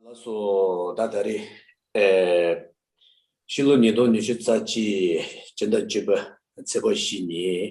ལགས་སོ། ད་ད་རེས། ཕྱི་ལོ་ཉིས་སྟོང་ཉི་ཤུ་རྩ་གཅིག་སྤྱི་ཟླ་བཅུ་པ་ཚེས་པ་བཞི་ཉིན།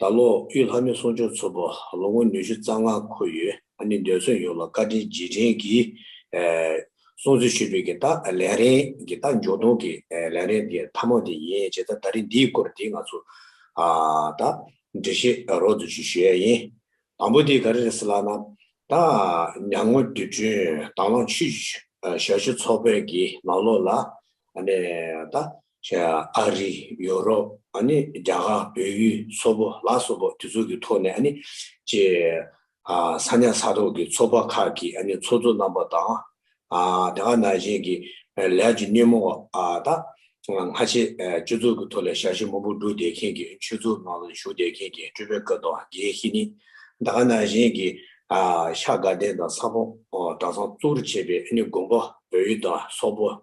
ད་ལོ་དབུས་ལྷ་མོའི་གསུང་ཆོས་ཚོགས་པ་ལོ་ངོ་ཉི་ཤུ་རྩ་ལྔ་འཁོར་ཡོད་ཨ་ནི་འདོད་བརྩོན་ཡོངས་ལ་བཀའ་དྲིན་རྗེས་དྲན་གྱི་སྲུང་བརྩི་ཞུ་འབུལ་གྱི་ལྟ་ལན་རེད་གི་ལྟ་འཇོག་གཏོང་གི་ལན་རེད་འདི་ཐ་མག་དེ་ཡིན་བྱས་ད་ད་རིང་འདིའི་སྐོར་དེ་ང་ཚོ་ད་འབྲེལ་བཤད་རོགས་དུ་ཞུ་ཡས་ཡིན། དང་པོ་དེ་ག་རེ་རེད་ཟེར་ལགས་ན། ད་ཉང་ངོས་དུས་དྲུང་དྭང་བླངས་ཆུ་ཞག་བཞི་ཚོགས་པའི་གི་ནང་ལོགས་ལ་ཨ་ནི་ད་ཨ་རི། ཡོ་རོབ། རྒྱ་གར། བོད་ཡུལ། སོག་པོ། ལ་སོགས་པོ་དེ་ཚོ་གི་ཐོག་ནས་ཀྱི། ས་ཉག་ས་ཐོག་གི་ཚོགས་པ་ཁག་གི་ཚོགས་གཙོ་རྣམ་པ་དང། དེ་ག་ནང་བཞིན་གྱི་ལས་ཀྱི་སྣེ་མོ་བ་དང། སྔ་ཕྱི་སྤྱི་ཚོགས་ཀྱི་ཐོག་ལས་ཞབས་ཕྱི་མང་པོ་བསྒྲུབས་བསྡད་མཁན་གྱི་ཆོས་ཚོགས་ནང་ལ་ཞུགས་བསྡད་མཁན་གྱི་སྤྲུལ་པའི་བཀའ་དང་དགེ་བཤེས་ནི། དེ་ག་ནང་བཞིན་གྱི་ཤ་དགའ་ལྡན་དང་ས་ཕོངས་གྲྭ་ཚང་གཙོ་བོར་བྱས་པའི་དགོན་པ་བོད་ཡུལ་དང་སོག་པོ།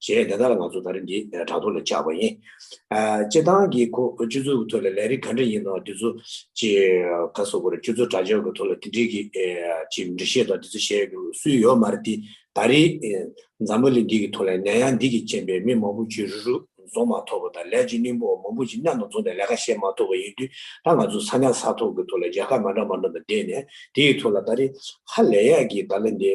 ཞེས་དེ་དག་ལ་ང་ཚོ་ད་རེས་འདིའི་དྲ་ཐོག་ལ་བྱ་བ་ཡིན། སྤྱི་བཏང་གི་སྤྱི་ཚོགས་ཀྱི་ཐོག་ལ་ལས་རིགས་ག་འདྲ་ཡིན་ནོ་དེ་ཚོ་ཀྱི་ཁ་སོ་བོར་སྤྱི་ཚོགས་དྲ་ཕྱོགས་ཀྱི་ཐོག་ལ་དེ་འབྲེལ་གྱི་འབྲི་བཤད་དང་དེ་ཚོ་བཤད་རྒྱུ་སུས་ཡོད་མ་རེད་དེ་ད་རེས་འཛམ་བུ་གླིང་འདི་གི་ཐོག་ལ་ནད་ཡམས་འདི་གྱི་རྐྱེན་པས་མི་མང་པོ་བྱུས་རུ་རུ་འཛོམས་མ་ཐོབ་པ་དང་ལས་བྱེད་གླིང་བུ་བ་མང་པོ་ཅིག་མཉམ་དུ་འཛོམས་ནས་ལས་ཀ་བཤད་མ་ཐོབ་པ་ཡིན་དུས་ད་ང་ཚོ་ས་གནས་ས་ཐོག་གི་ཐོག་ལ་རྒྱལ་ཁབ་མ་འདྲ་མ་འདྲ་དང་བསྡད་ནས་དེའི་ཐོག་ལ་ད་རེས་ཧ་ལས་ཡག་གི་ད་ལན་འདི།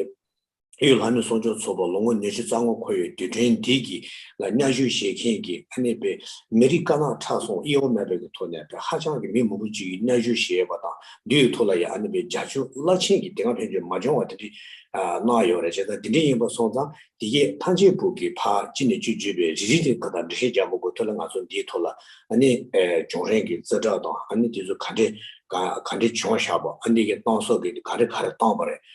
གཡུ་ལྷ་མོའི་གསོག་འཇོག་ཚོགས་པ་ལོ་ངོ་ཉེར་བཞི་རྩ་སྔོན་འཁོར་ཡོད་དུས་དྲན་འདི་གི་ལ་གཉའ་གཞུག་བཞེས་མཁན་གྱི་ཨ་ནེ་པེ་མི་རིགས་དཀར་ནག་ཁྲག་སོང་གཡེ་བོ་མེད་པའི་གི་ཐོག་ནས་པེ་ཧ་ཅང་གི་མི་མོ་པོ་ཅིག་གི་གཉའ་གཞུག་བཞེས་པ་དང་འདི་ཡི་ཐོག་ལ་ཡང་ཨ་ནེ་པེ་རྒྱ་ཆུ་བླ་ཆེན་གྱི་དེ་སྔ་ཕན་ཆོད་མ་འབྱོང་བ་དེ་འདྲི་གནང་ཡོད་རེད་བྱས་ཙང་དེ་འདྲི་ཡིན་པ་སོང་ཙང་དེ་གི་ཐང་ཆེན་བུག་གི་ཕ་ཅི་ནས་ཅི་བརྗོད་པའི་རི་རི་དེ་ག་དང་འདྲི་ཤེས་རྒྱ་མོ་དགོས་ཐོག་ལ་ང་ཚོ་འདི་ཡི་ཐོག་ལ་ཨ་ནེ་བྱུང་རན་གི་རྩེ་གྲགས་དང་ཨ་ནེ་དེ་ཚོ་ག་འདྲི་ག་འདྲི་བྱུང་ཤག་པ་ཨ་ནེ་གི་གཏང་སོག་གི་ག་འདྲི་ག་རེ་གཏང་པ་རེད།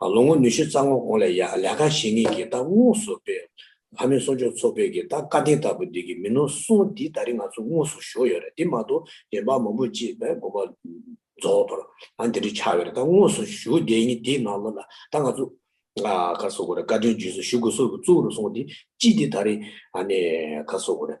ལོ་ངོ་ཉི་ཤུ་རྩ་ལྔ་གོང་ལས་ཡག་ལས་ཀ་བྱེད་ངེས་ཀྱི་རྟགས་དངོས་སུ་སྤེལ། ལྷ་མོའི་གསོ་སྦྱོང་ཚོགས་པས་ཀྱི་རྟགས་བཀའ་དྲིན་ལྟ་བུ་འདི་གི་མི་ནོར་གསུང་འདི་ད་རིང་ང་ཚོ་དངོས་སུ་ཞུ་ཡོད་རེད་དེ་མ་གཏོགས་རྒན་པ་མང་པོ་གཅིག་པས་དགོངས་པ་རྫོགས་དོར་ཨང་དེ་འདྲ་ཆགས་ཡོད་རེད་ད་དངོས་སུ་ཞུ་བདེ་ཡིན་དེའི་ནང་ལོ་ལ་ད་ང་ཚོ། ཁ་གསོ་དགོས་རེད་བཀའ་དྲིན་རྗེས་སུ་ཞུ་དགོས་སོགས་ཀྱི་གཙུག་རུ་གསུང་འདི་གཅིག་འདི་ད་རིང་ཨ་ནི་ཁ་གསོ་དགོས་རེད།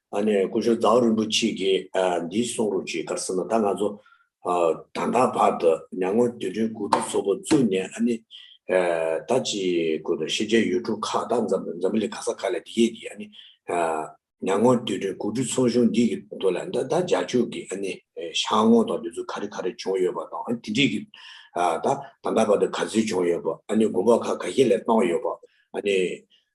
ཨ་ནེ་སྐུ་ཞབས་ཛའོ་རིན་པོ་ཆེས་ཀྱིས་འདིའི་གསུང་རུབ་ཅིག་ཀར་ཟེར་ན་ད་ང་ཚོ་ད་ལྟ་བར་དུ་མྱ་ངོ་དུས་སྟོན་དགུ་ཐུག་ཚོགས་པ་བཙུགས་ནས་ཨ་ནེ་ད་ཅི་དགོས་དོ་ཤེས་བྱའི་ཡུལ་གྲུ་ཁག་དང་འཛམ་བུ་གླིང་ག་ས་ག་ལས་འདི་སྐད་ཀྱིས་ཨ་ནེ་མྱ་ངོ་དུས་སྟོན་དགུ་ཐུག་ཚོགས་གཞུང་འདི་གི་དོ་ལ་ད་ད་རྒྱ་ཕྱུག་གི་ཨ་ནེ་ཤང་ངོ་དང་དུས་ཚོད་ག་རེ་ག་རེ་བྱུང་ཡོད་པ་དང་ཨ་ནེ་དེ་འདྲིས་ཀྱི་ད་ད་ལྟ་བར་དུ་ག་ཚོད་བྱུང་ཡོད་པ་ཨ་ནེ་དགོན་པ་ཁག་ག་ཤེད་ལས་བཏང་ཡོད་པ་ཨ་ནེ་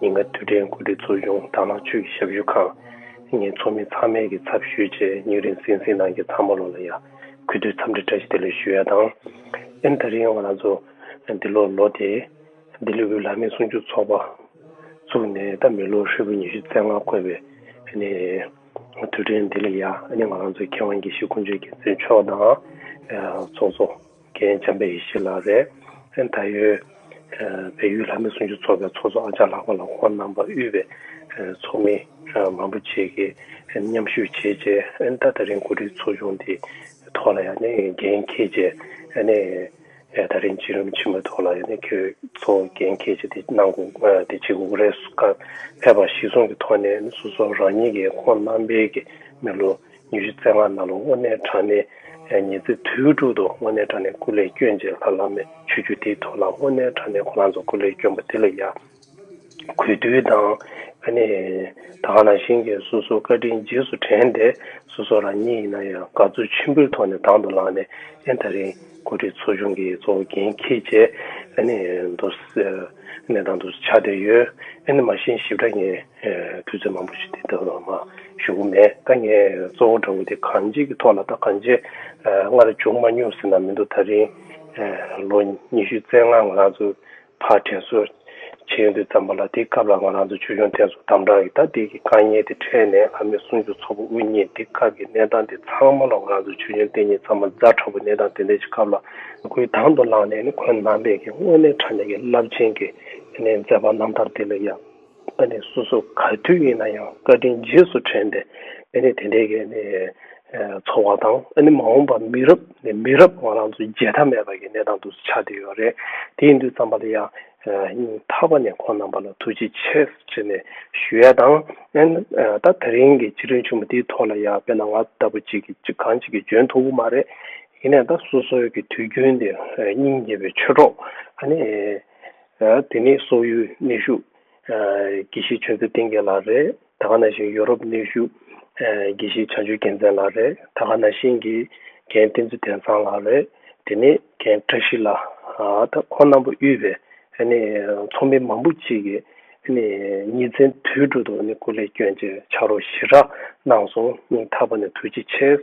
ཉིན་ལྔ་དུས་དྲན་གོ་སྒྲིག་ཚོགས་ཆུང་དར་ནག་ཆུས་ཀྱི་ཞབས་ཞུ་ཁང་གཉིས་ཚོགས་མི་ཚང་མས་ཀྱི་ཚབ་ཞུས་རྗེས་ཉིན་རིང་ཟིང་ཟིང་གནང་རྗེས་ཚང་མ་ལོ་ལ་ཡར་གུས་དུས་འཚམས་འདྲི་བཀྲ་ཤིས་བདེ་ལེགས་ཞུ་ཡ་དང། ཨེན་ད་རིང་ང་ཚོ་འདི་ལོར་ལོ་དེ་འདི་ལུས་པོའི་ལག་མི་སྲུང་སྐྱོབ་ཚོགས་པ་བཙུགས་ནས་ད་མི་ལོ་ཧྲིལ་པོ་ཉི་ཤུ་རྩ་ལྔ་བསྐོར་བའི་དུས་དྲན་འདི་ལ་ཡར་ང་ཚོའི་མཁས་དབང་དགེ་བཤེས་དཀོན་མཆོག་རྒྱལ་མཚན་མཆོག་དང། ཚོགས་གཙོ། རྒན་བྱམས་པའི་ཡིད་ཆེས་ལགས། རེད་ད། བལ་ཡུལ་ལྷ་མི་ཟུང་ཆུ་ཚོགས་པའི་ཚོགས་གཙོ་ཨ་ཅག་ལགས་པ་ལ་ཁོང་རྣམ་པ་དབུས་པའི་ཚོགས་མི་མང་པོ་བཅས་ཀྱིས་མཉམ་ཞུགས་བྱས་རྗེས་ད་ད་རིང་གོ་སྒྲིག་ཚོགས་ཆུང་དེ་ཐོག་ལ་ཡང་འགན་འཁྱེར་རྗེས་ད་རིང་སྤྱི་རིམ་ཆེན་མོའི་ཐོག་ལ་ཁྱེད་ཚོ་འགན་འཁྱེར་རྗེས་དེ་གནང་འགོ་དེ་བྱེད་འགོ་རེ་སྐབས་ཕེབས་པ་གཞི་བཟུང་གི་ཐོག་ནས་སོ་སོ་རང་ཉིད་ཀྱི་ཁོང་རྣམ་པའི་མི་ལོ་ཉི་ཤུ་རྩེ་ལྔ་ནཱ་ལུང་དབེན་གནས་བྲག་ནས། ཉི་རྩེ་དུས་དྲུག་ཏུ་དབེན་གནས་བྲག་ནས་སྐུ་ལས་བསྐྱོན་རྗེས་ལྷ་བླ་མའི་ཆོས་བརྒྱུད་དེའི་ཐོག་ལ་དབེན་གནས་བྲག་ནས་ཁོ་རང་ཚོ་སྐུ་ལས་བསྐྱོན་པ་དེ་ལ་ཡ། གུས་འདུད་དང། ཨ་ནི། ད་ག་ན་ཤིང་གིས་སོ་སོའི་བཀའ་དྲིན་རྗེས་སུ་དྲན་ཏེ། སོ་སོ་རང་ཉིད་ཡིན་ན་ཡང་དགའ་བསུ་ཆེན་པོའི་ཐོག་ནས་དང་དུ་བླངས་ནས་ཨེ་མཐའ་རིང། འགོ་ཁྲིད་ཚོ་ཆུང་གི་གཙོ་འགན་ཁྱེད་ཅེས་མདོར་གནས་སྟངས་དུ་ཆ་བསྡད་ཡོད། མ་གཞི་ཞིབ་ཕྲ་ངས་དུས་ཚོད་མང་པོ་ཞིག་དེ་དག་ལ་མ་ཞུགས་ཀྱི་མེད། ད་ངས་གཙོ་བོ་འདྲ་བོ་དེ་གང་ཅིའི་ཐོག་ལ་དང་གང་ཅིའི་སྔར་བྱུང་མ་མྱོང་ཟེར་ན་མི་འདུག་ད་རིང་ལོ་ཉི་ཤུ་རྩེ་ལྔ་ང་ཚོ་ཕར་དྲན་གསོ་བྱེད་འདི་བརྩམས་པ་ལ་དེའི་སྐབས་ལ་ང་རང་ཚོ་ཆོས་སྐྱོང་བསྟེན་གསོལ་དམ་དྲག་གི་ཐ་དད་ཀྱི་དཀའ་ཉེན་དེ་འཕྲད་ནས་ལྷ་མོའི་གསུང་ཆོས་ཚོགས་པ་དབུ་བརྙེས་འདི་སྐབས་ཀྱི་གནས་སྟངས་དེ་ཚང་མ་ལ་ང་རང་ཚོ་ཆོས་སྐྱོང་བསྟེན་ཉིན་ཚང་མ་རྫ་ཁྲ་བོ་གནས་སྟངས་དེ་འདྲ་ཞིག་སྐབས་ལ། ཁོའི་དང་དུ་ལངས་ནས་ཁོའི་ནང་པས་ཀྱི་དངོས་གནས་ཕྲ་མེན་གྱི་རླབས་ཆེན་གྱི་མཛད་པ་རྣམ་ཐར་དེ་ལས་ཡག། ཨ་ནི་སོ་སོ་ག་དུས་ཡིན་ན་ཡང་བཀའ་དྲིན་རྗེས་སུ་དྲན་ཏེ་ཨ་ནི་དེ་འདྲའི་གི་ནི་ཚོར་བ་དང་ཨ་ནི་མ་འོངས་པ་མི་རབས་ནས་མི་རབས་བང་རང་ཚོའི་བརྗེད་ཐབས་མེད་པ་གི་གནས་སྟངས་དུ་ཆགས་བསྡད་ཡོད་རེད་དེའི་མདུད་བརྩམས་པ་ལ་ཡང་སྙིང་ཐག་པ་ནས་ཁོང་རྣམ་པ་ལ་ཐུགས་རྗེ་ཆེ་ཆེ་ནས་ཞུ་ཡས་དང་ཨན་ད་ད་རིང་གི་ཕྱི་དྲོའི་ཆུང་མ་དེའི་ཐོག་ལ་ཡང་དཔེ་ན་ང་ལྟ་བུ་ཅིག་གི་ཅིག་གང་ཅིག་གི་འཇོན་ཐུབ་བོ་མ་རེད་ཡིན་ནས་ད་སོ་སོའི་གི་དུས་རྒྱུན་དེ་སྙིང་རྗེ་བའི་ཆོས་གྲོགས་ཨ་ནི། དེ་ནི་སོག་ཡུལ་གནས་བཞུགས་དགེ་བཤེས་ཆོས་མཛོད་བསྟན་རྒྱལ་ལགས་རེད། ད་ག་ན་ཤིང་ཡོ་རོབ་གནས་བཞུགས་དགེ་བཤེས་བྱང་ཆུབ་རྒྱལ་མཚན་ལགས་རེད། ད་ག་ན་ཤིང་གི་མཁན་བསྟན་འཛིན་བསྟན་བཟང་ལགས་རེད། དེ་ནི་མཁན་བཀྲ་ཤིས་ལགས། ད་ཁོང་རྣམ་པ་དབུས་པའི་ཚོགས་མི་མང་པོ་གཅིག་གིས་ཉིན་མཚན་དུས་དྲུག་ཏུ་སྐུ་ལས་བསྐྱོན་རྗེས་ཕྱག་རོགས་ཞི་དྲག་གནང་སོང་སྙིང་ཐག་པ་ནས་ཐུགས་རྗེ་ཆེ།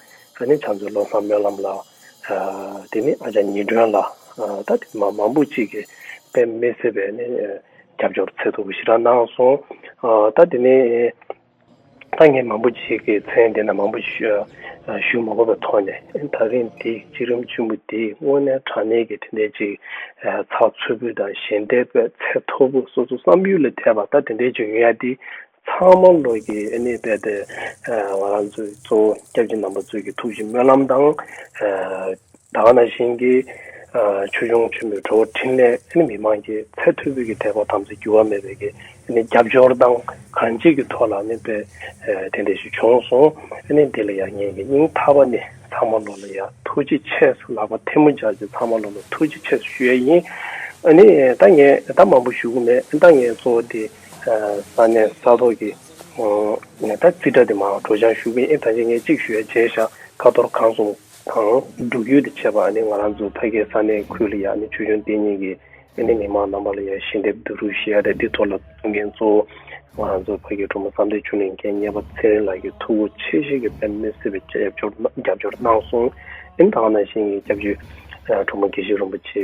ད་ནི་བྱང་ཆུབ་བློ་བཟང་སྨོན་ལམ་ལགས། དེ་ནི་ཨ་ཅག་ཉི་སྒྲོན་ལགས། ད་ནི་མང་པོ་ཅིག་གིས་དཔེ་མི་སྲིད་པའི་ནི་རྒྱབ་སྐྱོར་ཚད་ཐུབ་པོ་ཞིག་རང་གནང་སོང། ད་དེ་ནི་ད་ངས་མང་པོ་ཅིག་གིས་མཚན་དེ་འདྲ་མང་པོ་ཞིག་ཞུ་མ་གོ་བའི་ཐོག་ནས་ད་རིང་འདི་གཅིག་རིམ་ཆེན་པོ་འདིས་དངོས་གནས་དྲང་གནས་ཀྱི་དེ་འདྲའི་ཅིག་ཚགས་ཚུད་པོ་དང་ཞལ་འདེབས་པའི་ཚད་མཐོ་པོ་སོ་སོ་བསམ་ཡུལ་ལས་འཐད་པ་ད་དེ་འདྲའི་ཅིག་ཡོད་ཡ་འདི། ཚང་མ་བློ་སྐྱེད་ནུས་པའི་སྟེང་ང་རང་ཚོའི་གཙོ་བོ་སྐྱབས་རྗེ་རྣམ་པ་ཚོས་ཀྱི་ཐུགས་ཀྱི་སྨོན་ལམ་དང། ད་ག་ན་བཞིན་གྱི་ཆོས་འབྱུང་ཆེན་མོའི་བྲོ་བོ་འཕྲིན་ལས་མི་དམངས་ཀྱི་ཚད་མཐོའི་བོད་ཀྱི་དད་པ་དམ་ཚིག་འགྱུར་བ་མེད་པའི་རྒྱབ་སྐྱོར་དང་གང་ཅིག་གི་ཐོག་ལ་ནི་དཔེ་དེ་འདྲ་ཞིག་བྱུང་སོང་འདི་ལ་ཡང་ངེད་ཀྱི་སྙིང་ཐག་པ་ནས་ཚང་མ་བློ་ལ་ཡང་ཐུགས་རྗེ་ཆེ་སོ་ལག་པ་ཐལ་མོ་སྦྱར་ཅིག་ཚང་མ་བློ་ལ་ཐུགས་རྗེ་ཆེ་སོ་ཞུ་ཡས་ཡིན། ད་ངས་ད་མང་པོ་ཞུ་གི་མེད་ད་ངས་གཙོ་བོ་དེ། ས་གནས་ས་ཐོག་གི་ཉེན་བརྡ་རྩིས་ཁྲ་དེ་མ་གྲོ་བྱང་བཞུགས་པའི་ཨེ་ད་ཅི་ངས་གཅིག་ཞུ་ཡ་རྗེས་བཞག་ཁ་ཐོར་གང་སོང་དང་འབྲུག་ཡུལ་དུ་ཆས་པ་ཨ་ནི་ང་རང་ཚོ་ཕ་གའི་ས་གནས་ཁུལ་ལ་ཡ་ཨ་ནི་ཆུ་གཞོན་ལྟེ་གཉིས་ཀྱི་ཨེ་ནི་མི་མང་རྣམ་པ་ལ་ཡ་ཞི་འདེབས་བསྡུ་རུག་ཞེས་ཨ་ད་དི་ཐོ་ལ་གཏོང་མཁན་གཙོ་བོ་ང་རང་ཚོ་ཕ་གའི་གྲོ་མོ་བསམ་འདས་ཆུ་གླིང་མཁྱེན་གཉེས་པ་ཚེ་རིང་ལགས་ཀྱི་ཐུ་བོ་ཆེ་ཞིག་གི་པན་མི་སེར་བའི་རྒྱབ་སྐྱོར་རྒྱབ་སྐྱོར་གནང་སོང་ཨིན་ད་ང་ནང་བཞིན་གྱི་སྐྱབས་བཅོལ་གྲོ་མོ་དགེ་བཤེས་རིན་པོ་ཆེ་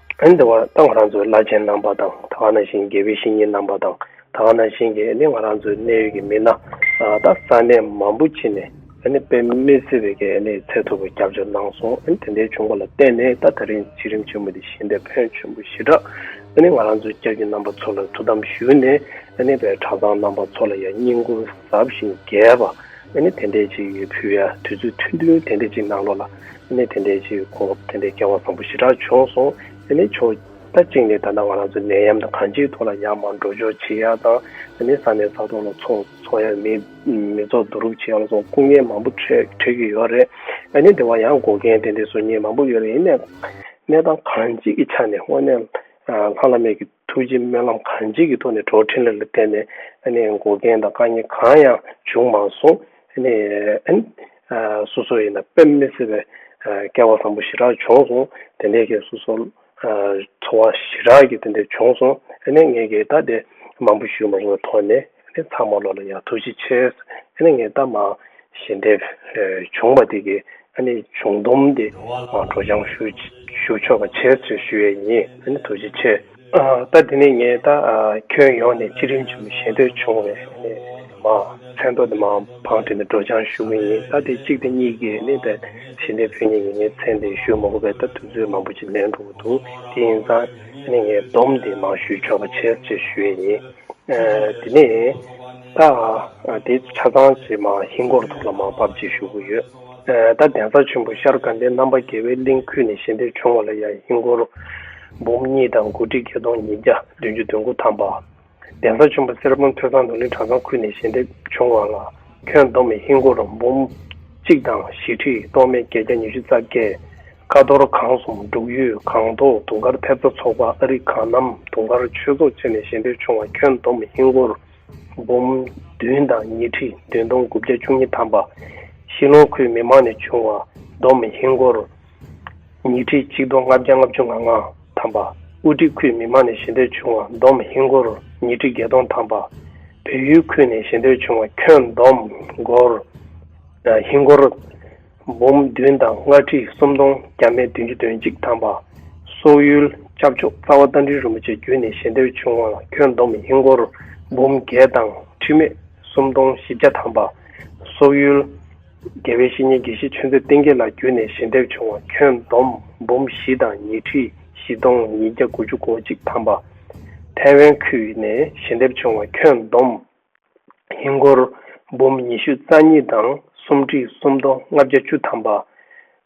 ཨན་དེ་བར་ད་ང་རང་ཚོའི་བླ་ཆེན་རྣམ་པ་དང་ད་ག་ན་བཞིན་དགེ་བའི་བཤེས་གཉེན་རྣམ་པ་དང་ད་ག་ན་བཞིན་གྱི་ཨ་ནི་ང་རང་ཚོའི་གནས་ཡུལ་གྱི་མི་སྣ་ད་ས་གནས་མང་པོ་ཕྱིན་ནས་ཨ་ནི་དཔེ་མི་སྲིད་པའི་གེ་ཨ་ནི་ཚད་མཐོ་བའི་རྒྱབ་ལྗོངས་གནང་སོང་ཨ་ནི་དེ་འདྲའི་བྱུང་བ་ལ་བརྟེན་ནས་ད་ད་རིང་བྱིས་རིམ་ཆེན་མོ་དེ་བཞིན་དེ་ཕོན་ཆེན་པོ་ཞེ་དྲག་ཨ་ནི་ང་རང་ཚོའི་སྐྱབས་ཀྱི་རྣམ་པ་ཚོ་ལ་ཐུགས་དམ་ཞུས་ནས་ཨ་ནི་བའི་གྲྭ་ཚང་རྣམ་པ་ཚོ་ལ་ཡང་སྙིང་ཁུང་ཟབ་ཞིང་རྒྱས་པ་ཨ་ནི་དེ་འདྲས་ཅིག་ཡོད་ཕུལ་ཡ་དུས་ཚོད་ཐུང་ཐུང་དེ་འདྲས་ཅིག་ནང་ལོགས་ལ། གནས་དེ་འདྲའི་ཕྱིར་ཁོང་དེ་འདྲའི་སྐལ་བ་བཟང་པོ་ཞེ་དྲག་བྱུང་སོང་ཟེར་ནས་ཆོག་ད་གཅིག་ནས་ད་ལྟ་ང་རང་ཚོ་ནད་ཡམས་དང་གང་ཅིའི་ཐོག་ལ་ཡང་མང་འགྲོ་འཇོག་བྱེད་ཡག་དང་ཟེར་ནས་ས་གནས་ས་ཐོག་ལ་ཚོགས་འཚོགས་ཡག་མི་མི་ཚོགས་བསྡུ་རུབ་བྱེད་ཡག་ལ་སོགས་སྐུ་ངལ་མང་པོ་འཕྲོད་ཀྱི་ཡོད་རེད་ཨ་ནེ་དེ་བ་ཡང་འགོ་མཁན་དེ་འདྲའི་བཟོ་ཉེས་མང་པོ་ཡོད་རེད་ཡིན་ནས་གནས་སྟངས་གང་ཅིའི་ཆ་ནས་དངོས་གནས་ལྷང་ལྷང་མེད་ཀྱི། ཐུགས་རྗེ་སྨོན་ལམ་གང་ཅིའི་གི་ཐོག་ནས་གྲོགས་འཕྲིན་ལས་ལ་བརྟེན་ནས་འགོ་རྐྱེན་དང་དཀའ་ཉེན་གང་ཡང་བྱུང་མ་སོང། སོ་སོ་ཡིན་ན་དཔེ་མི་སྲིད་པའི་སྐལ་བ་བཟང་པོ་ཞེ་དྲག་བྱུང་སོང། དེ་འདྲའི་གི་སོ་སོ་འཚོ་བ་ཞེ་དྲག་གི་དེ་འདྲ་བྱུང་སོང། ངས་གི་ད་དེ་མང་པོ་ཞུས་མ་སོང་བའི་ཐོག་ནས། དེ་ཚང་མ་ལོ་ལ་ཡང་ཐུགས་རྗེ་ཆེ། ཨ་ནི་ངས་ད་མ་ཞལ་འདེབས་བྱུང་བ་དེ་གི་ཨ་ནི་བྱུང་སྡོམ་དེ་གྲོ་བྱང་ཞུ་ཞུ་ཆོག་པ་བྱས་ཚོད་ཞུ་ཡས་ཉི་ཨ་ནི་ཐུགས་རྗེ་ཆེ། ད་དེ་ནས་ངས་ད་ཁྱོད་ཡོང་ནས་སྤྱི་རིམ་ཆེན་མོ་ཞལ་འདེབས་བྱུང་བས་ཨ་ནི་མ་མཚན་ཐོག་དེ་མ་བང་བྲིས་ནས་གྲོ་བྱང་ཞུ་གི་ཡིན་ད་དེ་གཅིག་དང་གཉིས་ཀྱིས་ནི་ད་ཞལ་འདེབས་ཕུལ་ཉེ་ཡིན་ངས་མཚན་དེ་ཞུ་མ་གོ་བས་ད་དུས་ཚོད་མང་པོ་ཅིག་ལེན་འགྲོ་གི་འདུག་དེ་ཡིན་ཙང་ཨ་ནི་ངས་སྡོམ་དེ་མང་ཞུས་ཆོག་པ་བྱས་ཚོད་ཞུ་ཡས་ཉི། དེ་ནས་ད་དེ་ཆ་ཚང་བྱེད་མ་ཧིན་སྒོར་ཐོག་ལ་མ་བབས་རྗེས་ཞུ་གི་ཡོད། ད་གདན་ས་ཆེན་པོ་ཤར་དགའ་ལྡན་རྣམ་པ་རྒྱལ་བའི་གླིང་ཁུལ་ནས་ཞལ་འདེབས་བྱུང་བ་ལ་ཡང་ཧིན་སྒོར་འབུམ་གཉིས་དང་དགུ་ཁྲི་བརྒྱད་སྟོང་ཉིས་བརྒྱ་བདུན་ཅུ་དོན་དགུ་ཐམ་པ། གདན་ས་ཆེན་པོ་གསེར་སྦོམ་ཐོས་བཟང་རྡོ་ལིང་གྲྭ་ཚང་ཁུལ་ནས་ཞལ་འདེབས་བྱུང་བ་ལ་ཁྱོན་བསྡོམས་ཧིན་སྒོར་འབུམ་གཅིག་དང་བཞི་ཁྲི་སྟོང་མན་བརྒྱད་བརྒྱ་ཉི་ཤུ་རྩ་བརྒྱད། ཀ་ཐོར་གངས་གསུམ་འབྲུག་ཡུལ་གངས་མདོག་དུང་དཀར་ཐེབས་རྩ་ཚོགས་པ་ཨ་རིག་གངས་རྣམ་དུང་དཀར་ཆོས་ཚོགས་བཅས་ནས་གཞན་ཕེབས་བྱུང་བ་ཁྱོན་བསྡོམས་ཧིན་སྒོར་འབུམ་བདུན་དང་ཉིས་ཁྲི་བདུན་སྟོང་དགུ་བརྒྱ་བཅུ་གཉིས་ཐམ་པ། ཤིས་ལོང་ཁུལ་མི་མང་ནས་བྱུང་བ་བསྡོམས་ཧིན་སྒོར་ཉིས་ཁྲི་གཅིག་སྟོང་ལྔ་བརྒྱ་ལྔ་བཅུ་ང་ལྔ་ཐམ་པ། དབུ་ཁྲིད་ཁུལ་མི་མང་ནས་གཞན་ཕེབས་བྱུང་བ་བསྡོམས་ཧིན་སྒོར་ཉིས་ཁྲི་བརྒྱད་སྟོང་ཐམ་པ། བོད་ཡུལ་ཁུལ་ནས་གཞན་ཕེབས་བྱུང་བ་ཁྱོན་བསྡོམས་ཧིན་སྒོར། འབུམ་བདུན་དང་ལྔ་ཁྲི་སུམ་སྟོང་བརྒྱ་མེད་བདུན་ཅུ་དོན་གཅིག་ཐམ་པ། སོག་ཡུལ ྋསྐྱབས་མཆོག་རྩ་བ་རྟ་མགྲིན་རིན་པོ་ཆེ་བརྒྱུད་ནས་ཞལ་འདེབས་བྱུང་བ་ལ་ཁྱོན་བསྡོམས་ཧིན་སྒོར་འབུམ་བརྒྱད་དང་ཁྲི་མེད་སུམ་སྟོང་བཞི་བརྒྱ་ཐམ་པ། སོག་ཡུལ ྋརྒྱལ་བའི་བཤེས་གཉེན་དགེ་བཤེས་ཆོས་མཛད་བསྟན་རྒྱལ་ལགས་བརྒྱུད་ནས་ཞལ་འདེབས་བྱུང་བ་ཁྱོན་བསྡོམས་འབུམ་བཞི་དང་ཉིས་ཁྲི་བཞི་སྟོང་ཉིས་བརྒྱ་དགུ་ཅུ་གོ་གཅིག་ཐམ་པ། ཐའེ་ཝན་ཁུལ་ནས་ཞལ་འདེབས་བྱུང་བ་ཁྱོན་བསྡོམས་ཧིན་སྒོར་འབུམ་ཉི་ཤུ་རྩ་གཉིས་དང་སུམ་ཁྲི་སུམ་སྟོང་ལྔ་བརྒྱ་བཅུ་ཐམ་པ།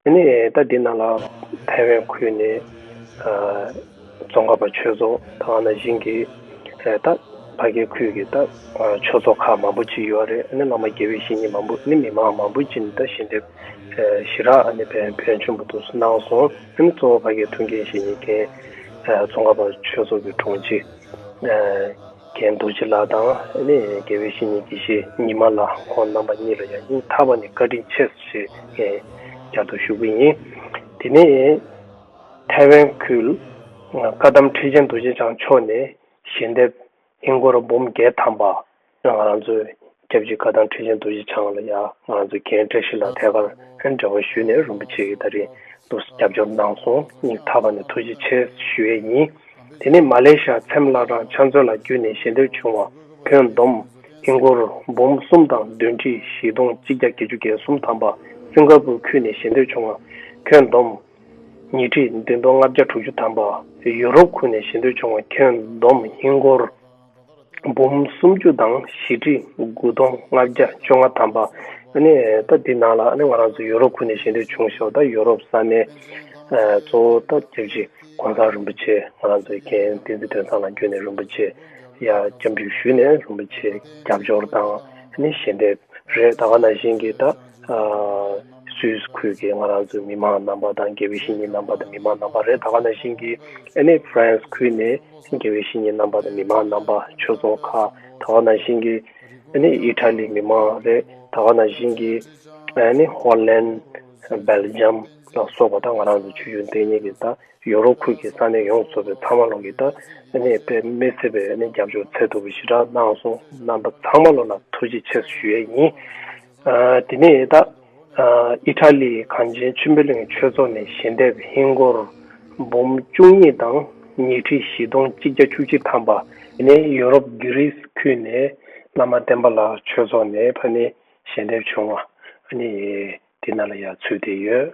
དེ་ནས་ད་ལྟའི་ནང་ལ་ཐའེ་ཝན་ཁུལ་ནས་རྫོང་ཁག་པ་ཆོས་ཚོགས་དང་ན་ཞིང་གི་ད་བྷ་གའི་ཁུལ་གྱི་ད་ཆོས་ཚོགས་ཁག་མང་པོ་ཅི་ཡོད་རེད་ཨ་ནི་བླ་མ་དགེ་བའི་བཤེས་གཉེན་མང་པོ་ནི་མི་མང་མང་པོ་ཅི་ནི་ད་ཞི་འདེབས་ཞི་རག་ཨ་ནི་བན་བོན་ཆེན་པོ་དུ་སུ་གནང་སོང་ཨ་ནི་གཙོ་བོ་བྷ་གའི་ཐུགས་འགན་བཞེས་ཉེས་མཁན་རྫོང་ཁག་པ་ཆོས་ཚོགས་ཀྱི་དྲུང་ཆེ། མཁན་རྡོ་རྗེ་ལགས་དང་ཨ་ནེ་དགེ་བའི་བཤེས་གཉེན་གྱིས་ཤེས་ཉི་མ་ལ་ཁོང་རྣམ་པ་གཉིས་ལ་ཡང་སྙིང་ཐག་པ་ནས་བཀའ་དྲིན་ཆེ་ཞེས་ངས་བསྐྱར་དུ་ཞུ་གི་ཡིན། དེ་ནས་ཐའེ་ཝན་ཁུལ་བཀའ་གདམས་ཁྲི་ཆེན་རྡོ་རྗེ་འཆང་མཆོག་ནས་ཞལ་འདེབས་ཧིན་སྒོར་འབུམ་བརྒྱད་ཐམ་པ་རང་ཚོའི་སྐྱབས་རྗེ་བཀའ་ཐང་ཁྲི་ཆེན་རྡོ་རྗེ་འཆང་ལ་ཡང་ང་ཚོ་རྒན་བཀྲ་ཤིས་ལགས་ཐད་ཀར་འབྲེལ་བ་ཞུས་ནས་རིན་པོ་ཆེ་གི་ད་རིང་དུ་རྒྱབ་སྐྱོར་གནང་སོང་སྙིང་ཐག་པ་ནས་ཐུགས་རྗེ་ཆེ་ཞུ་ཡས་ཡིན། དེ་ནས་མ་ལེ་ཤ་འཚེམ་བླ་བྲང་ཕྱག་མཛོད་ལ་བརྒྱུད་ནས་ཞལ་འདེབས་བྱུང་བ་ཁྱོན་བསྡོམས་ཨིན་སྒོར་འབུམ་གསུམ་དང་བདུན་ཁྲི་བཞི་སྟོང་གཅིག་བརྒྱ་བརྒྱད་ཅུ་བརྒྱད་གསུམ་ཐམ་པ་སེམས་དཀར་པོའི་ཁུལ་ནས་ཞལ་འདེབས་བྱུང་བ་ཁྱོན་བསྡོམས་ཉིས་ཁྲི་བདུན་སྟོང་ལྔ་བརྒྱ་དྲུག་ཅུ་ཐམ་པ་ཡུ་རོབ་ཁུལ་ནས་ཞལ་འདེབས་བྱུང་བ་ཁྱོན་བསྡོམས་ཨིན་སྒོར། འབུམ་སུམ་བཅུ་དང་བཞི་ཁྲི་དགུ་སྟོང་ལྔ་བརྒྱ་བཅོ་ལྔ་ཐམ་པ། ད་འདི་ནང་ལ་ང་རང་ཚོ་ཡོ་རོབ་ཁུལ་ནས་གཞན་སྡོད་བྱུང་ཞོར་ད་ཡོ་རོབ་ས་གནས་གཙོ་བོ་ད་སྐྱབས་རྗེ་དགོན་ཁང་རིན་པོ་ཆེ་ང་རང་ཚོའི་མཁྱེན་བསྟན་རྩིས་སྟོན་ཁང་ལ་བསྐྱོད་ནས་རིན་པོ་ཆེ་ཡར་སྐྱབས་འཇུག་ཞུས་ནས་རིན་པོ་ཆེ་རྒྱབ་སྐྱོར་དང་གཞན་སྡོད་རེད་ད་ག་ན་བཞིན་གྱི་ད་སུད་ཁུལ་གྱི་ང་རང་ཚོའི་མི་མང་རྣམ་པ་དང་དགེ་བའི་བཤེས་གཉེན་རྣམ་པ་དང་མི་མང་རྣམ་པ་རེད་ད་ག་ནང་བཞིན་གྱི་ཨན་ནེ་ཕ་རན་སི་ཁུལ་ནས་དགེ་བའི་བཤེས་གཉེན་རྣམ་པ་དང་མི་མང་རྣམ་པ་ཆོས་ཚོགས་ཁག་ད་ག་ནང་བཞིན་གྱི་ཨན་ནེ་ཨི་ཐ་ལི་མི་མང་རེད་ད་ག་ནང་བཞིན་གྱི་ཨན་ནེ་ཧོ་ལན། སྦེལ་ཇམ། ལ་སོགས་པ་དང་ང་རང་ཚོའི་ཆོས་བརྒྱུད་འདི་ཉིད་ཀྱི་ད་ཡོ་རོབ་ཁུལ་གྱི་ས་གནས་ཡོངས་ཚོ་པའི་ཚང་མ་ལོག་གི་ད་ཨན་ནེ་པེ་མེ་སི་པའི་ཨན་ནེ་རྒྱབ་སྐྱོར་ཚད་ཐུབ་པའི་ཞི་དྲག་གནང་སོང་རྣམ་པ་ཚང་མ་ལོག་ལ་ཐུགས་རྗེ་ཆེ་ཞུ་ཡས་ཡིན། དེ་ནས་ད་ཨི་ཐ་ལིའི་གངས་ཅན་ཆུ་མེ་གླིང་ཆོས་ཚོགས་ནས་ཞལ་འདེབས་ཧིན་སྒོར་འབུམ་བཅུ་གཉིས་དང་ཉིས་ཁྲི་བཞི་སྟོང་གཅིག་བརྒྱ་བཅུ་གཅིག་ཐམ་པ། དེ་ནས་ཡུ་རོབ་གྷི་རི་སི་ཁུལ་ནས་བླ་མ་བསྟན་པ་ལགས་ཆོས་ཚོགས་ནས་ཕ་ནི་ཞལ་འདེབས་བྱུང་བ། དེ་ན་ལ་ཡ་ཚུལ་དེ་ཡོད།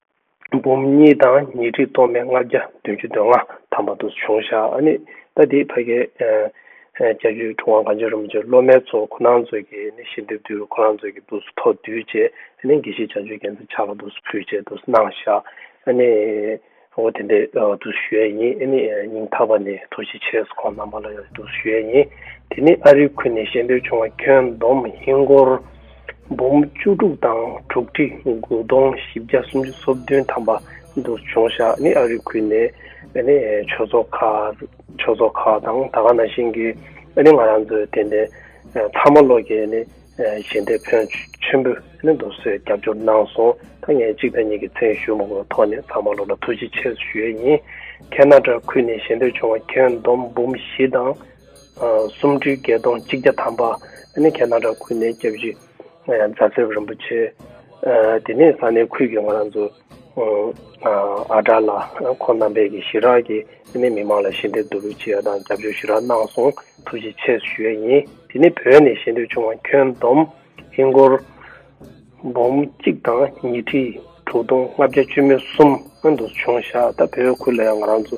འབུམ་གཉིས་དང་ཉི་ཁྲི་སྟོང་པའི་ལྔ་བརྒྱ་བདུན་ཅུ་དོན་ལྔ་དམ་པ་དུ་བྱུང་ཞག་ནི་ཟླ་འདིའི་བྷ་གའི་བརྒྱད་བཅུའི་དྲུག་དབང་གངས་ཅན་རིན་པོ་ཆེ་སློབ་མའི་ཚོགས་ཁོ་ནའི་མཛོད་ཀྱི་ནི་ཤིན་ཏུ་བསྡུས་རུ་ཁོ་ནའི་མཛོད་ཀྱི་འདུག་སུ་ཐོག་བསྡུས་བཅས་ནི་དགེ་བཤེས་བྱང་ཆུབ་རྒྱལ་མཚན་ཕྱག་ལ་འདུག་སུ་ཕུལ་བཅས་འདུག་སུ་གནང་ཞག་ནི་འོ་དེ་འདི་འདུག་སུ་ཞུ་ཡས་ཡིན་ནི་ཉིང་ཐག་པ་ནི་ཐུགས་རྗེ་ཆེ་སུ་ཁོང་རྣམ་པ་ལ་ཡང་འདུག་སུ་ཞུ་ཡས་ཡིན་དེ་ནི་ཨ་རིག་ཁུལ་ནས་ཤེས་འདོད་བྱུང་བ་ཁྱོན་བསྡོམས་ཧིན་སྒོར། འབུམ་བཅུ་དྲུག་དང་དྲུག་ཁྲི་དགུ་སྟོང་བཞི་བརྒྱ་སུམ་ཅུ་སོ་བདུན་ཐམ་པ་འདུ་བྱུང་ཞག་ནི་ཨ་རིའི་ཁུལ་ནས་ནི་ཆོས་ཚོགས་ཁག་ཆོས་ཚོགས་ཁག་དང་ད་ག་ན་ཤིང་གི་ནི་ང་རང་ཚོའི་དེ་ནས་ཐ་མ་ལོ་ཀྱི་ནི་ཞལ་འདེབས་ཕོན་ཆེན་པོས་ནི་འདུ་བཟོས་རྒྱབ་སྐྱོར་གནང་སོང་ད་ངས་གཅིག་དང་གཉིས་ཀྱི་མཚན་ཞུ་མ་གོ་ཐོག་ནས་ཚང་མ་ལོ་ལ་ཐུགས་རྗེ་ཆེ་ཞུ་ཡས་ཡིན་ཁྱེད་ན་དྲ་ཁུལ་ནས་ཞལ་འདེབས་བྱུང་བ་ཁྱོན་བསྡོམས་འབུམ་བཞི་དང། སུམ་སྤྲུལ་བརྒྱད་སྟོང་གཅིག་བརྒྱ་ཐམ་པ་ནི་གྱ་ནང་བྲག་ཁུལ་ནས་སྐྱབས་རྗེ་རྫ་ཚེར་རིན་པོ་ཆེ། དེ་ནས་ས་གནས་ཁུལ་གྱི་ང་རང་ཚོ་ཨ་གྲགས་ལ་ཁོང་རྣམ་པས་ཀྱི་ཞི་རགས་ཀྱི་ནས་མི་མང་ལ་ཞི་འདེབས་བསྡུ་རུག་བྱེད་ཡ་དང་རྒྱབ་སྐྱོར་ཞི་རགས་གནང་སོང་ཐུགས་རྗེ་ཆེ་ཞུ་ཡ་ཡིན་དེ་ནས་བོད་ནས་ཞེ་འདོད་ཆུང་བ་ཁྱོན་བསྡོམས་ཧིན་སྒོར་འབུམ་གཅིག་དང་ཉིས་ཁྲི་དྲུག་སྟོང་ལྔ་བརྒྱ་བཅུ་མེད་གསུམ་ཨ་འདུ་བྱུང་ཞག་ད་བོད་ཁུལ་ལ་ཡང་ང་རང་ཚོ་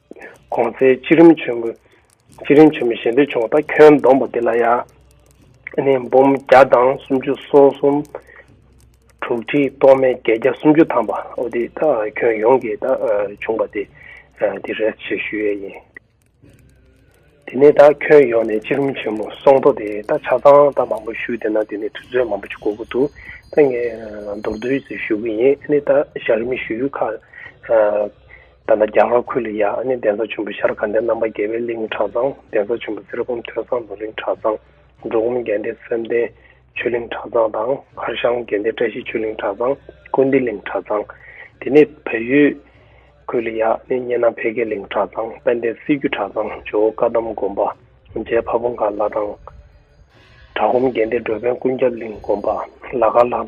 གོང་ཚེས་སྤྱི་རིམ་ཆེན་མོ་སྤྱི་རིམ་ཆེན་མོ་གཞན་པའི་ཆུང་བ་དག་ཁྱོན་བསྡོམས་པ་འདི་ལ་ཡང་ནི་འབུམ་བརྒྱ་དང་སུམ་ཅུ་སོ་གསུམ། དྲུག་ཁྲི་སྟོང་མན་བརྒྱད་བརྒྱ་སུམ་ཅུ་ཐམ་པ་འོ་དེ་དག་ཁྱོན་ཡོངས་ཀྱི་དག་ཆུང་བ་དེ་འདི་རེད་ཅེས་ཞུ་ཡས་ཡིན། དེ་ནས་དག་ཁྱོན་ཡོངས་ནས་སྤྱི་རིམ་ཆེན་མོ་སོང་ཐོག་དེ་དག་ཆ་ཚང་དག་མང་པོ་ཞུས་དེ་ན་དེ་ནས་དུས་ཚོད་མང་པོ་ཅིག་འགོར་གི་འདུག་ད་ངས་མདོར་བསྡུས་ཞུ་གི་ཡིན་ནི་དག་ཞག་རིམ་ཞུ་ཡུལ་ཁག་ད་ལྟ་རྒྱ་གར་ཁུལ་ལ་ཡང་ཨ་ནེ་གདན་ས་ཆེན་པོ་ཤར་གནྡྷའི་རྣམ་པ་རྒྱལ་བའི་གླིང་གྲྭ་ཚང་གདན་ས་ཆེན་པོ་གསེར་བུམ་ཐོས་བསམ་རྡོ་གླིང་གྲྭ་ཚང། འབྲོག་ཁུམ་རྒྱལ་བསྟན་བསམ་གཏན་ཆོས་གླིང་གྲྭ་ཚང་དང་མཁར་ཤང་རྒྱལ་བསྟན་བཀྲ་ཤིས་ཆོས་གླིང་གྲྭ་ཚང། ཀུན་བདེ་གླིང་གྲྭ་ཚང། དེ་ནས་བལ་ཡུལ་ཁུལ་ལ་ཡང་ཨ་ནེ་སྙེ་ནང་འཕེལ་རྒྱས་གླིང་གྲྭ་ཚང་དཔལ་ལྡན་སྲིད་བརྒྱུད་གྲྭ་ཚང་ཇོ་བོ་བཀའ་གདམས་དགོན་པ། རྗེ་ཕ་བོ་མཁར་ལྷ་ཐང། བྲག་ཁུམ་རྒྱལ་བསྟན་འགྲོ་ཕན་ཀུན་ཁྱབ་གླིང་དགོན་པ། ལ་དཀར་ལྷ་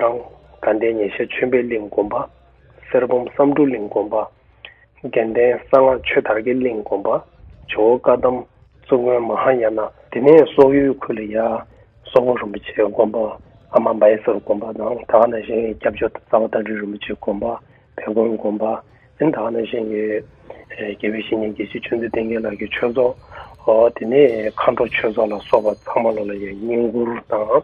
ཁང། དགའ་ལྡན་ཉེ་ཤར་ཆོས་འཕེལ་གླིང་དགོན་པ། གསེར་བུམ་བསམ་འགྲུབ་གླིང་དགོན་པ། རྒྱན་ལྡན་གསང་སྔགས་ཆོས་དར་གྱི་གླིང་དགོན་པ། ཇོ་བོ་བཀའ་གདམས་གཙུག་དངོས་མ་ཧཱ་ཡ་ན། དེ་ནས་སོག་ཡུལ་ཁུ་ལི་ཡ། སོག་པོ་རིན་པོ་ཆེ་དགོན་པ། ཨ་མ་འབའ་ཡེ་སོར་དགོན་པ་དང་ད་ཨ་ན་ཞིང་ཡའི་སྐྱབས་བཅོལ་རྡ་རྩ་བ་སྟག་སྒྲིལ་རིན་པོ་ཆེ་དགོན་པ། བལ་གོང་དགོན་པ། ཨིན་ད་ཨ་ན་ཞིང་ཡའི། རྒྱལ་བའི་བཤེས་གཉེན་དགེ་བཤེས་ཆོས་འཛིན་བསྟན་རྒྱལ་ལགས་ཀྱི་ཆོས་ཚོགས། དེ་ནས་མཁའ་འགྲོ་ཆོས་ཚོགས་ལ་སོགས་པ་ཚང་མ་ལོ་ལ་ཡང་བསྙེན་བཀུར་དང།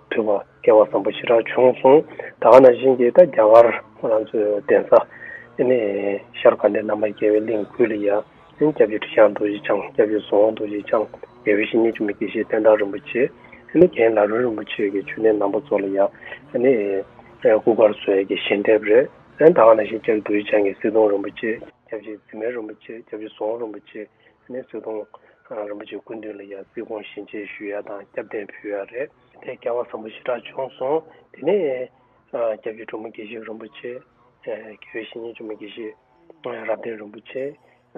ཐོས་པ་སྐལ་བ་བཟང་པོ་ཞེ་དྲག་བྱུང་གསུང། ད་ག་ན་བཞིན་གྱིས་ད་རྒྱ་གར་ཁོ་རང་ཚོའི་གདན་ས། ནས་ཤར་ག་ནས་བླ་མ་རྒྱལ་བའི་གླིང་བརྒྱུད་ལ་ཡང། སྐྱབས་རྗེ་ཁྲི་བྱང་རྡོ་རྗེ་འཆང་སྐྱབས་རྗེ་ཟོ་འོང་རྡོ་རྗེ་འཆང། རྒྱལ་བའི་བཤེས་གཉེན་འཇུ་མི་དགེ་བཤེས་བསྟན་བདག་རིན་པོ་ཆེ། རྒན་ལ་རོན་རིན་པོ་ཆེ་གི་ཆོས་གནས་ནང་པ་ཚོ་ལ་ཡང། སྐུ་གར་སོས་ཀྱི་ཞལ་འདེབས་རེད། ད་ག་ན་བཞིན་སྐྱབས་རྗེ་རྡོ་རྗེ་འཆང་གི་སེ་སྟོང་རིན་པོ་ཆེ། སྐྱབས་རྗེ་རྫི་མན་རིན་པོ་ཆེ་སྐྱབས་རྗེ་ཟོ་འོང་རིན་པོ་ཆེ། ནས་གསོལ་སྟོང། རིན་པོ་ཆེ་སྐུ་མདུན་ལ་ཡང་རྩིས་དགོངས་བཞིན་ཆེད་ཞུ་ཡ་དང་སྐྱབས་གདན་ཕུལ་བ་རེད། དེ་སྐལ་བ་བཟང་པོ་ཞེ་དྲག་བྱུང་སོང། དེ་ནས། སྐྱབས་རྗེ་གྲོ་མོ་དགེ་བཤེས་རིན་པོ་ཆེ། དགེ་བའི་བཤེས་གཉེན་གཅུང་མོ་དགེ་བཤེས། རབ་བརྟན་རིན་པོ་ཆེ།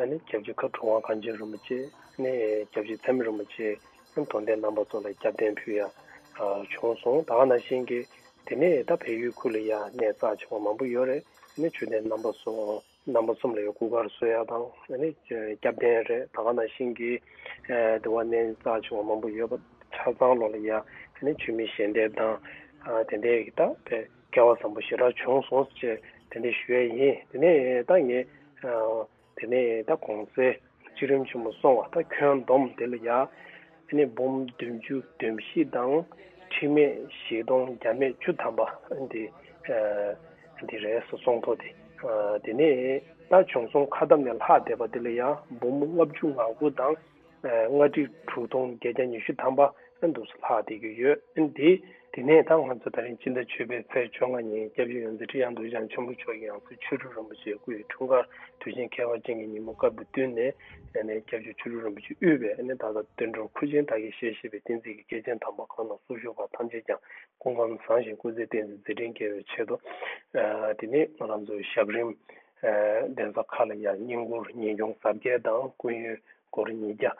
ནས་སྐྱབས་རྗེ་མཁའ་འགྲོ་དབང་བཀའ་ཆེན་རིན་པོ་ཆེ། ནས་སྐྱབས་རྗེ་ཚད་མེད་རིན་པོ་ཆེ། ནས་དོན་ལྡན་རྣམ་པ་ཚོ་ལ་སྐྱབས་གདན་ཕུལ་ཡ། བྱུང་སོང་ད་ག་ན་ཤེས་གི། དེ་ནས་ད་བལ་ཡུལ་ཁུལ་ལ་ཡང་ནས་རྩ་ཆེ་བ་མང་པོ་ཡོད་རེད། ནས་ཆོས་ལྡན་རྣམ་པ་སོགས། རྣམ་པ་གསུམ་ལ་ཡང་སྐུ་གར་བཟོ་ཡག་དང་སྐྱབས་ལྡན་རེད་ད་ག་ནང་བཞིན་གྱི་དེ་བ་གནས་རྩ་ཆུང་བ་མང་པོ་ཡོད་པ་ཆ་ཚང་བློ་ལ་ཡ་ཆོས་མིན་ཞལ་འདེབས་དང་དེ་འད་ཀྱི་ད་བས་སྐལ་བ་བཟང་པོ་ཞེ་དྲག་བྱུང་སོང་ཅེས་དེ་འད་ཞུ་ཡ་ཡིན་དེ་ནས་ད་ངས་དེ་ནས་ད་གོང་གསལ། བཅུ་རིམ་ཆེན་མོ་སོང་བ་དང་ཁྱོན་བསྡོམས་བདེ་ལ་ཡག། ནས་འབུམ་བདུན་ཅུ་བདུན་བཞི་དང་ཁྲི་མེད་བཞི་སྟོང་བརྒྱ་མེད་བཅུ་ཐམ་པ། འདི་འདི་རེད་སོ་སོང་ཐོ་དེ། དེ་ནས་ད་བྱུང་སོང་ཁ་བསྡམས་ནས་ལྷག་བསྡད་པ་དེ་ལ་ཡང་འབུམ་ལྔ་བཅུ་ང་དགུ་དང། ལྔ་ཁྲི་དྲུག་སྟོང་བརྒྱད་བརྒྱ་ཉི་ཤུ་ཐམ་པ། ཨེ་འདུག་སུ་ལྷག་བལྟས་རྒྱུ་ཡོད་ཨེ་འདི། དེ་ནས་ད་ང་ཚོ་ད་རིང་སྤྱི་ཟླ་བཅུ་པའི་ཚེས་བཅོ་ལྔ་ཉིན་སྐྱབས་ཡུལ་ཡོངས་འཛིན་ཁྲི་གཡང་འདུ་ཞང་ཆེན་པོ་མཆོག་གི་ཡང་སྲིད་ཆོས་དྲུག་རིན་པོ་ཆེའི་སྐུའི་འཁྲུངས་སྐར་དུས་ཆེན་ཁྱད་པར་ཅན་གྱི་ཉིན་མོ་སྐབས་དེ་བསྟུན་ནས། སྐྱབས་རྗེ་ཆོས་དྲུག་རིན་པོ་ཆེ་དབུས་པའི་ད་ལྟ་སྟོན་འགྲོར་མཁོ་ཆེན་དག་གིས་ཞལ་བཞེས་པའི་བསྟན་རྩིས་ཀྱི་སྐྱེས་ཆེན་དམ་པ་ཁག་ནང་སུ་བཞུགས་པ་ཐམས་ཅད་ཀྱང་སྐུ་ཁམས་བཟང་ཞིང་སྐུ་ཚེ་བརྟན་ཚེ་མཛད་འཕྲིན་རྒྱས་པའི་ཆེད་དུ། དེ་ནས་ང་རང་ཚོའི་ཞབས་རིམ། གདན་ས་ཁག་ལ་ཡང་བསྙེན་བཀུར་ཉིན་སྐྱོང་གཟབ་རྒྱས་དང་ཀུན་ཡོད་སྐོར་ཉིས་བརྒྱ།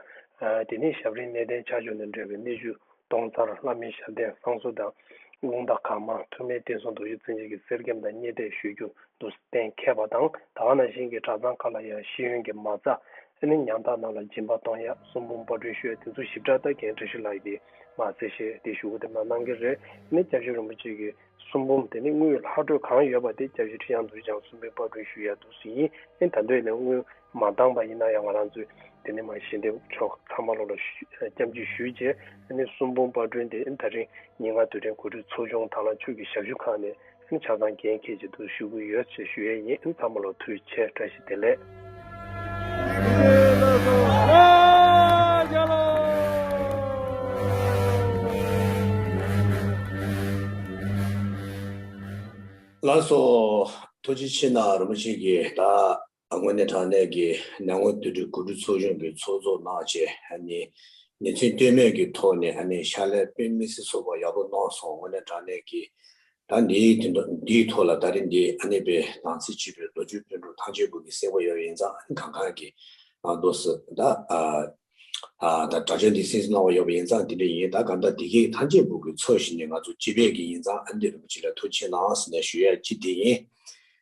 དེ་ནས་ཞབས་རིའི་གནས་བརྟན་ཆ་འཇོག་ནས་འབྲེལ་བའི་གནས་བཅུ་སྟོང་རྩར་ལྷ་མིའི་ཞབས་བརྟན་བསང་གསོལ་དང། རླུང་རྟ་གང་མང་ཐུར་མའི་བསྟན་སྲུང་དུ་ཡུལ་བཙན་བྱོལ་གྱི་གསེར་སྐྱེམས་དང་རྙེད་དད་ཞུ་རྒྱུ་འདུག་གཏན་མཁས་པ་དང་ད་བ་ན་གཞན་གྱི་གྲྭ་ཚང་ཁག་ལ་ཡང་ཤེས་ཡོན་གྱི་མ་རྩ། ཨནི་ཉང་ཐག་ནང་ལ་སྦྱིན་པ་གཏོང་ཡག་གསུང་འབུམ་པར་འགྲུལ་བཤོད་དེ་ཚོ་ཞིབ་ཕྲ་ལྟ་མཁན་བཀྲ་ཤིས་ལགས་ཀྱིས་མ་ཟེར་ཞེས་དེ་ཞུ་དེ་མ་གནང་གི་རེད་ཨནི་སྐྱབས་རྗེ་རིན་པོ་ཆེ་གི་གསུང་འབུམ་དེ་ནི་དངུལ་ལྷག་འཕྲོས་གང་ཡོད་པ་དེ་སྐྱབས་རྗེ་ཁྲི་བྱང་དུ་བྱང་གསུང་འབུམ་པར་འགྲུལ་ཞུ་ཡག་འདུག་ཟིན་ཨནི་ད་འདོད་ནས་དངུལ། མ་འདང་པ་ཡིན་ན་ཡང་ང་རང་ཚོས་དེ་ནས་མ་ཤེས་འདེབས་ཆོག་ཚང་མ་ལོག་ལ་སྐྱབས་འཇུག་ཞུས་རྗེས་ནས་གསུམ་དཔུང་པར་བསྒྲོན་ཏེ་ད་རིང་ཉིན་ལྔ་དུས་དྲན་གོ་སྒྲིག་ཚོགས་ཆུང་དང་ལང་ཕྱུག་གི་ཞབས་ཞུ་ཁང་ནས་ཆ་ཚང་རྒན་མཁས་ཅིག་ཏུ་ཞུ་གི་ཡོད་ཅེས་ཞུ་ཡས་ཡིན་ཚང་མ་ལོག་ཐུགས་ཆེ་བཀྲ་ཤིས་བདེ་ལེགས། ལགས་སོ། ཐུགས་རྗེ་ཆེ་ན་རིན་པོ་ཆེ་གིས་ད། དངོས་གནས་དྲང་གནས་ཀྱི་ནང་ངོ་དུད་འགྲོའི་གོ་སྒྲིག་ཚོགས་ཆུང་གི་ཚོགས་གཙོ་གནང་རྗེས་ཉིན་མཚན་ལྟོས་མེད་ཀྱི་ཐོག་ནས་ཕྱག་ལས་དཔོན་མི་སེར་ཚོགས་པ་ཡག་པོ་གནང་སོང་དངོས་གནས་དྲང་གནས་ཀྱི་ད་འདིའི་ཐོག་ལ་ད་རིང་འདིའི་གནས་པའི་དང་ཚིག་གཅིག་པའི་རྡོ་རྗེའི་དཔོན་གྲོགས་ཐང་ཆེན་པོ་གི་སེར་བ་ཡོད་ཡིན་ཙང་གང་གང་གི་ནང་དུ་སུ་ད་ད་དྲ་ཆེན་འདི་སེམས་གནང་བ་ཡོད་པ་ཡིན་ཙང་དེ་འདྲ་ཡིན་ད་ག་འདྲ་དེ་གིས་ཐང་ཆེན་པོ་གི་ཚོགས་ཞིག་ནས་ང་ཚོ་སྤྱི་པའི་གི་ཡིན་ཙང་ཨ་འདི་རིན་པོ་ཆེ་ལ་ཐུགས་ཆེ་གནང་ཟེར་ནས་ཞུ་ཡ་ཅི་དེ་ཡིན་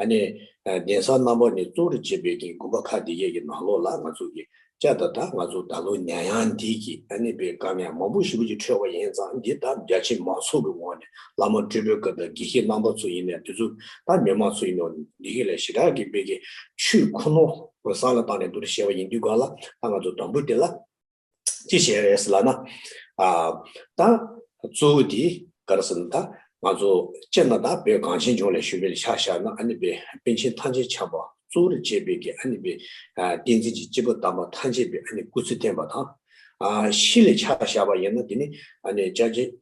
ཨ་ནེ། གདན་ས་རྣམ་པ་ནས་གཙོ་རུ་བྱེད་པའི་གིང་དགོན་པ་ཁག་འདི་གའི་གི་ནང་ལོགས་ལ་ང་ཚོ་གི་ལྕགས་རྟ་དང་ང་ཚོ་ད་ལོ་ཉང་ཡང་འདི་གི་ཨ་ནེ་པའི་སྐར་མའི་མང་པོ་ཞིག་ཀུན་གྱི་འཕྲོས་བ་ཡིན་ཙང་འདི་ལྟར་རྒྱ་ཆེ་མང་ཚོགས་ཀྱི་ངོགས་ནས་བླ་མ་སྤྲུལ་པའི་སྐབས་དང་དགེ་བཤེས་རྣམ་པ་ཚོ་ཡིན་ནས་དུས་ཚོད་ལྟར་མི་མང་ཚོ་ཡིན་ནོ་འདི་གི་ལས་ཞེ་དྲག་གི་དཔེ་གི་ཆུས་ཁོ་ནོ་སང་ལ་བཏང་ནས་འདུ་རུ་བཞེས་བ་ཡིན་དུས་གང་ལ་ད་ང་ཚོ་དང་པོ་དེ་ལ། ཅི་བྱས་རེད་ཟེར་ལ་ན། ད་གཙོ་བོ་དེ་ག་རེ་ཟེར་ན་ད་ང་ཚོ་སྤྱིར་ན་ད་བོད་གངས་ཅན་ལྗོངས་ལས་ཞུ་བའི་ལས་བྱ་བཞག་ན་ཨ་ནི་བའི་པན་ཆེན་ཐང་ཆེན་ཆགས་པ་གཙོ་བོར་བྱས་པའི་གི་ཨ་ནི་བའི་བསྟན་འཛིན་གྱི་སྐྱེས་བུ་དམ་པ་ཐང་ཆེན་པའི་ཨ་ནི་སྐུ་ཚེ་བརྟན་པ་དང། ཤི་ལས་བྱ་བཞག་པ་ཡིན་ན་དེ་ནི་ཨ་ནི་ལྕགས་ཀྱི་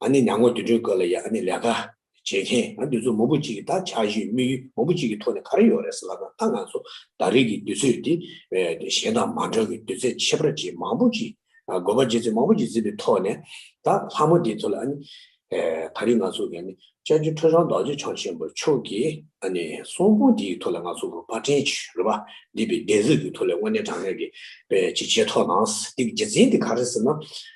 ཨ་ནི་ནང་ངོས་དུད་སྤྲིན་བཀོད་ལ་ཡ་ཨ་ནི་ལས་ཀ་བྱེད་མཁན་ང་དུས་ཚོད་མང་པོ་གཅིག་གི་ད་ཆ་གཞོན་དམིགས་ཡུལ་མང་པོ་གཅིག་གི་ཐོག་ནས་ག་རེ་ཡོང་རེད་ཟེར་ལབ་ན་ད་ང་ཚོ་ད་རེས་ཀྱི་དུས་ཚོད་དེ་གཞན་དང་མ་འདྲ་བའི་དུས་ཚད་ཁྱད་པར་ཅན་མང་པོ་གཅིག་དགོས་པ་བརྗེད་ཚོད་མང་པོ་གཅིག་འཛིན་པའི་ཐོག་ནས་ད་ལྷ་མོ་དེའི་ཐོག་ལ་ཨ་ནི་ད་རེས་ང་ཚོ་གི་ཨ་ནི་བཅའ་བྱུང་ཁྲོད་རང་མདངས་ཆེ་ཆུང་ཆེན་པོ་ཕྱོགས་ཀྱི་ཨ་ནི་གསོང་དཔུང་དེའི་ཐོག་ལ་ང་ཚོ་རུ་པ་ཕྲན་གྱིས་རུ་པ་འདི་པའི་གདན་གཟིགས་ཀྱི་ཐོག་ལ་དངོས་གནས་དྲང་གནས་ཀྱི་པའི་བྱེད་ཆས་ཐོག་ནང་དེ་གི་རྗེས་འཛིན་དེ་ག་རེ་ཟེར་ན་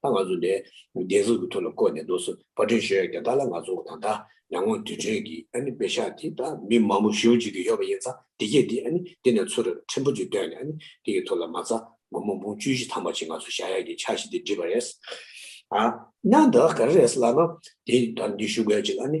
ད་ང་ཚོ་ནས་བདེན་གཟུགས་ཀྱི་ཐོག་ལ་བཀོད་ནས་འདུག་སོ་བ་དྲན་ཤོད་རྒྱ་དར་ལ་ང་ཚོ་ད་ལྟ་ཡར་ངོ་དུས་དྲན་གྱི་ཨ་ནི་བེ་ཤ་དེ་དང་མི་མང་པོ་བཞི་བོ་གཅིག་གི་ཡོད་པ་ཡིན་ཙང་དེ་རྒྱས་དེ་ཨ་ནི་དེ་ནས་ཚུར་ཕྲན་བུ་གཅིག་བཏོན་ནས་ཨ་ནི་དེ་གི་ཐོག་ལ་མ་ཚ་མགོ་མ་འབུང་བཅུ་བཞི་ཐང་པ་ཅིག་ང་ཚོ་བཞག་ཡག་གི་ཆ་ཞིག་དེ་འདྲི་བ་རེད། ཨ་ན་ད་ག་རེ་རེད་ལབ་ན་དེ་ད་འདི་ཞུ་དགོས་ཅིག་ཨ་ནི་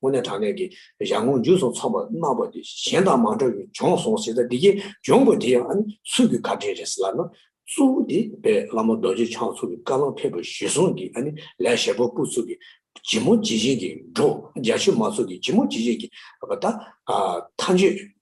དངོས་གནས་དྲང་གནས་ཀྱི་ཞང་ངོ་འཇུ་སོང་ཚོགས་པ་གནང་བ་དེ་གཞན་དང་མ་འདྲ་བའི་འབྱོངས་སོང་ཟེར་ད་འདི་གའི་འབྱོངས་དགོས་དེ་ཡང་ཨ་ནི་སུ་གི་བཀའ་དྲིན་རེད་ཟེར་ལབ་ན་གཙོ་བོ་དེ་པས་བླ་མ་རྡོ་རྗེ་འཆང་ཚོགས་ཀྱི་བཀའ་བླང་ཕེབས་པ་གཞི་བཟུང་གི་ཨ་ནི་ལས་ཞེ་པོ་པོ་ཚོགས་ཀྱི་ཇི་མོ་ཇི་བཞིན་གྱི་འགྲོ་རྒྱ་ཆོས་མ་ཚོགས་ཀྱི་ཇི་མོ་ཇི་བཞིན་གྱི་བ་ད་མཐའ་མཇུག།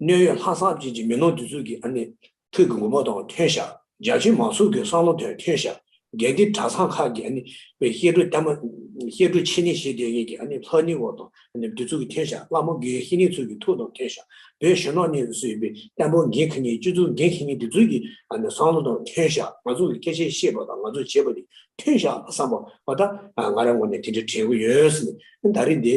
གནོད་ཡོད་ལྷག་བསམ་ཅན་གྱི་མི་ནོར་འདི་ཚོ་གི་ཨ་ནི་ཐུགས་ཀྱི་མགོ་མ་དང་མཐུན་ཤག་རྒྱ་ཆེ་མང་ཚོགས་ཀྱི་བསམ་བློ་དང་མཐུན་ཤག་རྒྱ་འདི་གྲྭ་ཚང་ཁག་གི་ཨ་ནི་བའི་ཤེས་དྲུག་གཏམ་ཤེས་དྲུག་ཆེ་ནི་ཞེས་དེ་གཉིས་ཀྱི་ཨ་ནི་ལྷ་ནི་བ་དང་ཨ་ནི་འདི་ཚོ་གི་མཐུན་ཤག་བླ་མ་དགེའི་ཤེས་ནི་ཚོ་གི་ཐུགས་དང་མཐུན་ཤག་བོད་གཞོན་ནོར་ནི་ཚོས་ཡོད་པའི་བསྟན་པོ་འགན་ཁི་ནི་སྤྱི་ཚོགས་འགན་ཁི་ནི་འདི་ཚོ་གི་ཨ་ནི་བསམ་བློ་དང་མཐུན་ཤག་ང་ཚོ་གི་སྐད་ཆ་བཤད་པ་དང་ང་ཚོ་བྱེད་པ་ནི་མཐུན་ཤག་བསམ་པ་བ་ད་ང་རང་ངོ་ནས་དེ་འདྲ་དྲན་གི་ཡོད་ཟེར་ནས་ད་རིང་འདི